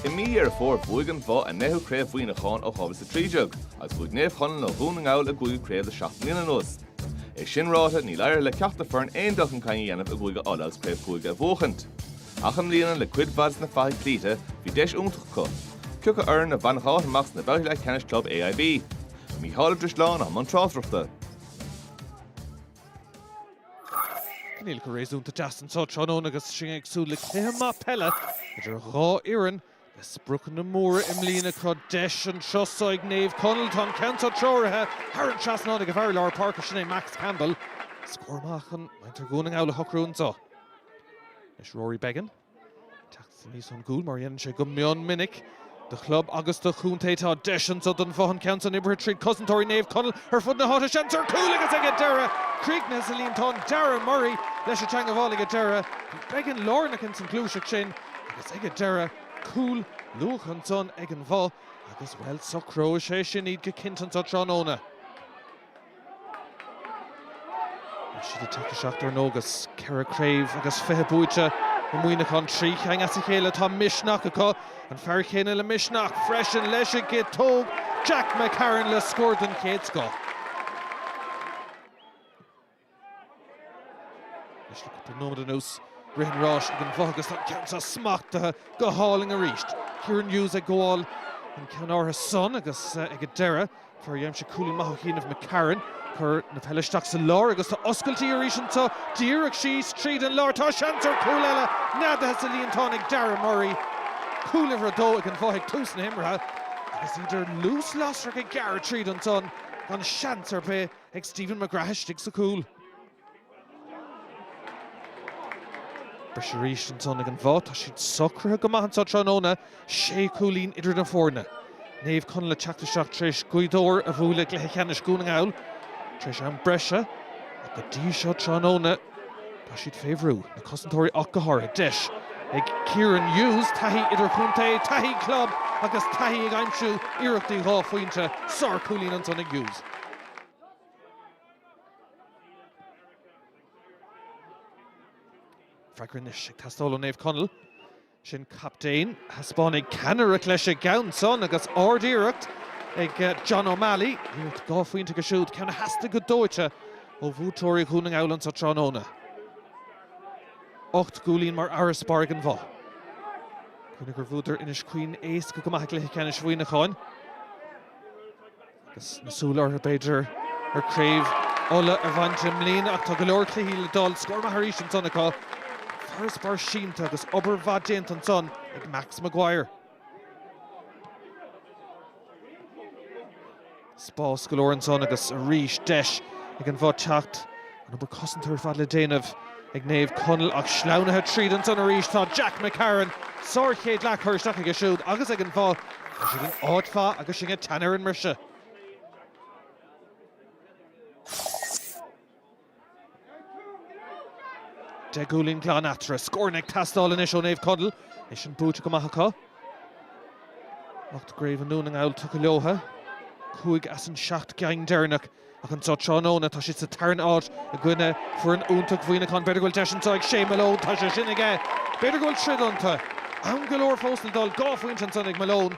I mí Dheireadh Fómhair bhuaigh An Bhoth a ndeichiú craobh Mhuineacháin ó 2013 agus bhuaigh Naomh Chonaill ó Dhún na nGall a gcúigiú craobh le seacht mbliana anuas. É sin ráite níl éirithe le ceachtar foireann aon dul chun cinn a dhéanamh i gCúige Uladh agus craobh chúige a bhuachaint. Ach i mbliana le cuid mhaith de na fathaigh cloíte bhí deis iontach acu. Cioca fhoireann a bhainfeadh áit amach sna babhtaí leathcheannais club AIB? Mícheál Ó Drisleáin i mbun tráchtaireachta. Coinníollacha réasúnta deas anseo tráthnóna agus sinn ag súil le cluiche maith peile idir dhá fhoireann le spriocanna móra i mbliana. Tá deis anseo ag Naomh Conaill. Tá an ceann seo treoraithe thar an trasnán ag an bhfear i lár páirce, sin é Max Campbell. Scór maith chun muintir Dhún na nGall a shocrú anseo. Anois Rory Beggan. teacht aníos ón gcúl, mar a dhéanann sé go mion minic do chlub agus do chontae. Tá deis anseo don Bhoth, an ceann san oibrithe tríd cosantóirí Naomh Conaill ar fud na háite. Seans ar chúl agus ag an deireadh críochnaithe sa líontán. Darragh Murray leis an teangmháil ag an deireadh. Beggan lárnach ins an gluaiseacht sin agus ag an deireadh cúl luath ansan ag an Bhoth agus, bhuel, socróidh sé sin iad go cinnte anseo tráthnóna. Tá siad ag teacht isteach dár ndóigh agus ceithre chraobh agus fiche buaite i Muineachán. Trí cheann as a chéile. Tá misneach acu. An fear céanna le misneach freisin leis an gciotóg, Jack McCarron le scór den chéad scoth. Anois le cúpla nóiméad anuas, rith an ráis ag an Bhoth agus tá an ceann seo smachtaithe go hálainn arís. Kieran Hughes ag gabháil an ceann áirithe san agus ag an deireadh, fear a dh'aimsigh cúilín maith ó chianaibh McCarron, cur na peile isteach sa lár agus tá oscailtí arís anseo. Díreach síos tríd an lár, tá seans ar chúl eile, neadaithe sa líontán ag Darragh Murray. Cúl uimhir a dó ag an Bhoth ag tús na himeartha agus iad ar luas lasrach ag gearradh tríd ansan gan seans ar bith. ag Stephen McGrath istigh sa cúl. Briseadh arís ansan ag an Bhoth. Tá siad socraithe go maith anso tráthnóna. Sé cúilín idir na foirne. Naomh Conaill ag teacht isteach tar éis Gaoth Dobhair a bhualadh i gcluiche ceannais Dhún na nGall tar éis am breise ach go dtí seo tráthnóna, Tá siad fé bhrú, na cosantóirí ach go háirithe. Deis ag Kieran Hughes, taithí idirchontae, taithí club agus taithí ag aimsiú iarrachtaí dhá phointe. Sárchúilín ansan ag Hughes. Freagra anois ag teastáil ó Naomh Conaill. Sin captaen. Thaispeánfaidh ceannaireacht leis an gceann san agus ard-iarracht ag John O'Malley. Iarracht dhá phointe aige siúd, ceann a theastaigh go dóite ó bhuaiteoirí Dhún na nGall anso tráthnóna. Ocht gcúilín mar fharasbarr ag an Bhoth. Cuimhnigh gur bhuadar Inis Caoin éasca go maith i gCluiche Ceannais Mhuineacháin. Agus na súile orthu, b'fhéidir, ar Chraobh Uladh a bhaint i mbliana ach tá go leor cluichí le dul. Scór maith arís ansan acu. Farasbarr sínte agus obair mhaith déanta ansan ag Max Maguire. Spás go leor ansan agus arís deis ag an Bhoth teacht An obair cosanta ar fad le déanamh ag Naomh Conaill ach sleamhnaithe tríd ansan arís tá Jack McCarron. Sár chéad leath curtha isteach aige siúd agus ag an Bhoth. Tá siad in áit mhaith agus sinn ag teannadh ar an mbriseadh. Deich gcúilín glan eatarthu. Scóranna ag teastáil anois ó Naomh Conaill. É sin buaite go maith acu. Ocht gCraobh i nDún na nGall tugtha leotha. Cúig as an seacht gceann deireanach. Ach anso tráthnóna, tá siad sa tarn áit i gcoinne foireann iontach Mhuineacháin. B'fhéidir go bhfuil deis anseo ag Shea Malone. Tá sé sin aige. B'fhéidir go bhfuil troid iontu. Am go leor fós le dul. Dhá phointe ansan ag Malone.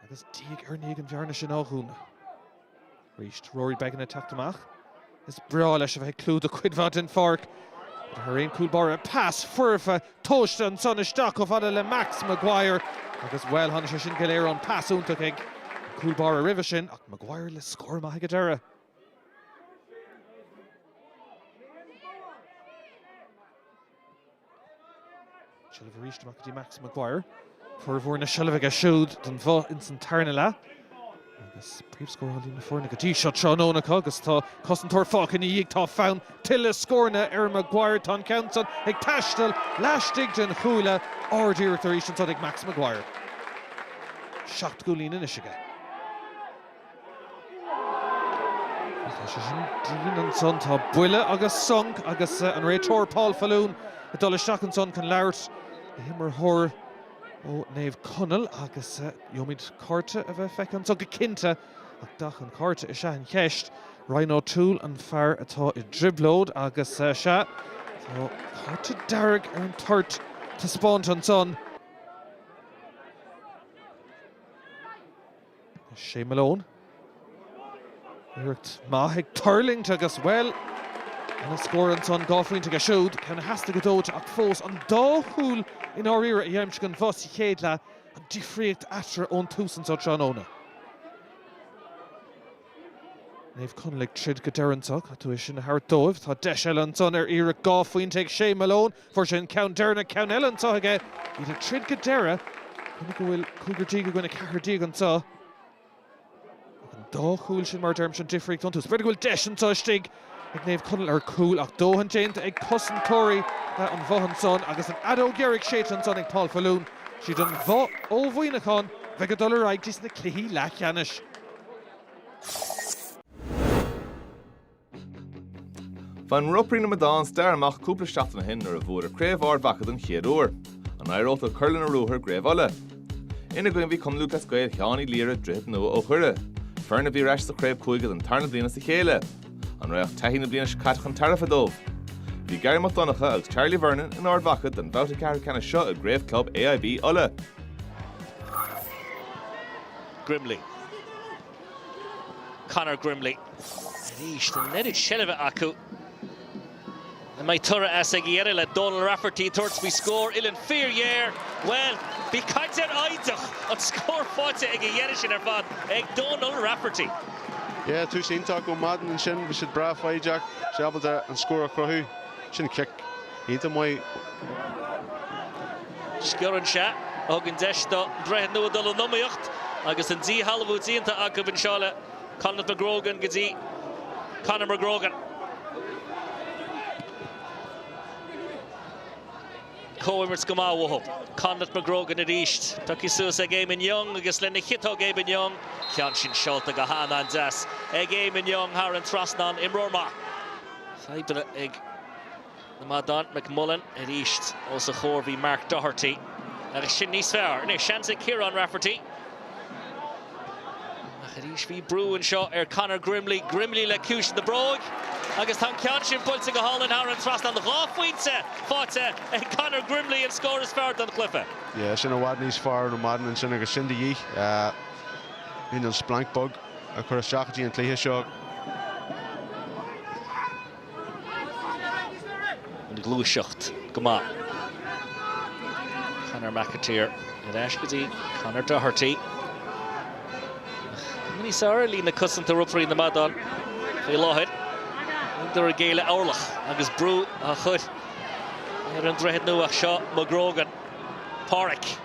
Agus diaidh ar ndiaidh an bhearna sin á dhúnadh arís. Rory Beggan ag teacht amach. Is breá leis a bheith ag clúdach cuid mhaith den pháirc, thar aon chúl báire, pas foirfe tomhaiste ansan isteach chomh fada le Max Maguire agus, bhuel, tháinig sé sin go léir ón pas iontach ag an gcúl báire roimhe sin ach Maguire le scór maith ag an deireadh. Seilbh arís amach go dtí Max Maguire. Formhór na seilbhe aige siúd don Bhoth ins an tarna leath. Agus príomhscórálaí na foirne go dtí seo tráthnóna acu agus tá cosantóir fágtha ina dhiaidh. Tá fonn tuilleadh scóranna ar Maguire. Tá an ceann san ag taisteal laistigh den chuaille. Ard-iarracht arís ansan ag Max Maguire. Seacht gcúilín anois aige. Tá sé sin dian ansan. Tá buille agus sonc agus an réiteoir Paul Faloon ag dul isteach ansan chun labhairt le himreoir ó Naomh Conaill agus gheobhaimid cárta a bheith feicthe ansan go cinnte. Ach dath an chárta is ea an cheist. Ryan O'Toole an fear atá i dtrioblóid agus sea, tá cárta dearg ar an toirt taispeáinte ansan. Shea Malone. Iarracht maith ag tuirlingt agus, bhuel, ana-scór ansan. Dhá phointe aige siúd, ceann a theastaigh go dóite ach fós an dá chúl i ndáiríre a d'aimsigh an Bhoth sa chéad leath an difríocht eatarthu ón tús anso tráthnóna. Naomh Conaill ag troid go deireadh anso. Caithfidh tú é sin a thabhairt dóibh. Tá deis eile ansan ar iarracht dhá phointe ag Shea Malone. Fuair sé an ceann deireanach, ceann eile anso aige. Iad ag troid go deireadh. Coinnigh go bhfuil cúigear déag i gcoinne ceathair déag anso. Ach an dá chúl sin, mar a deirimse, an difríocht iontu. B'fhéidir go bhfuil deis anso istigh. ag Naomh Conaill ar cúl ach dóthain déanta ag cosantóirí an Bhoth ansan agus an fheadóg dheiridh séidte ansan ag Paul Faloon. 'Siad an Bhoth ó Mhuineachán bheidh ag dul ar aghaidh dtí sna cluichí leathcheannais. Bhain Ropairí na Madán stair amach cúpla seachtain ó shin nuair a bhuadar Craobh Ard Mhacha don chéad uair. An éireodh leo cur lena ruathar i gCraobh Uladh? Ina gcoinne bhí Cumann Lúthchleas Gael Sheáin Uí Laoire Droichead Nua ó Dhoire. Foireann a bhí ar ais sa chraobh cúige don tarna bliain as a chéile. An raghadh taithí na bliana seo caite chun tairbhe dóibh? Bhí Garry Mac Donncha agus Charlie Vernon in Ard Mhacha don bhabhta ceathrú ceannais seo i gcraobh club AIB Uladh. Grimley. Conor Grimley. Arís, tá an oiread seilbhe acu An mbeidh toradh as ag a dheireadh le Donal Rafferty tabhairt faoi scór uillinn fíorghéar? Bhuel, bhí caint ar fhoighid ach an scór faighte ag a dheireadh sin ar fad ag Donal Rafferty. Yeah, tús iontach ó Madden ansin, bhí siad breá foighdeach, bhí sé ábalta an scór a chruthú. Sin cic iontach maith. Sciorrann sé, a thugann deis do Dhroichead Nua dul in iomaíocht agus an díshealbhú déanta acu anseo le. Conleth McGrogan go dtí Conor McGrogan. Comhimirt go maith uathu. Conleth McGrogan arís. Pioctha suas ag Eamonn Young agus lena chiotóg Eamonn Young. Ceann sin seolta go h-an an-deas ag Eamonn Young thar an trasnán. Imreoir maith. Fadhbanna ag. an Madán. McMullan arís. Os a chomhair bhí Mark Doherty agus sin níos fearr. Anois seans ag Kieran Rafferty. Ach arís bhí brú anseo ar Conor Grimley. Grimley le ciumhais na bróige agus tá an ceann sin buailte go hálainn thar an trasnán. Dhá phointe faighte ag Conor Grimley, an scór is fearr don chluiche. Yeah, sin i bhfad níos fearr ó Madden ansin agus sin de dhíth. Bhí an splanc beag a chur isteach go dtí an cluiche seo. an ghluaiseacht go maith. Conor McAteer ar ais go dtí Conor Doherty. Cuma níos fearr ar líne cosanta Ropairí na Madán faoi láthair. Níleadar ag géilleadh orlach agus brú á chur ar an Droichead Nua seo, McGrogan, Pádraic.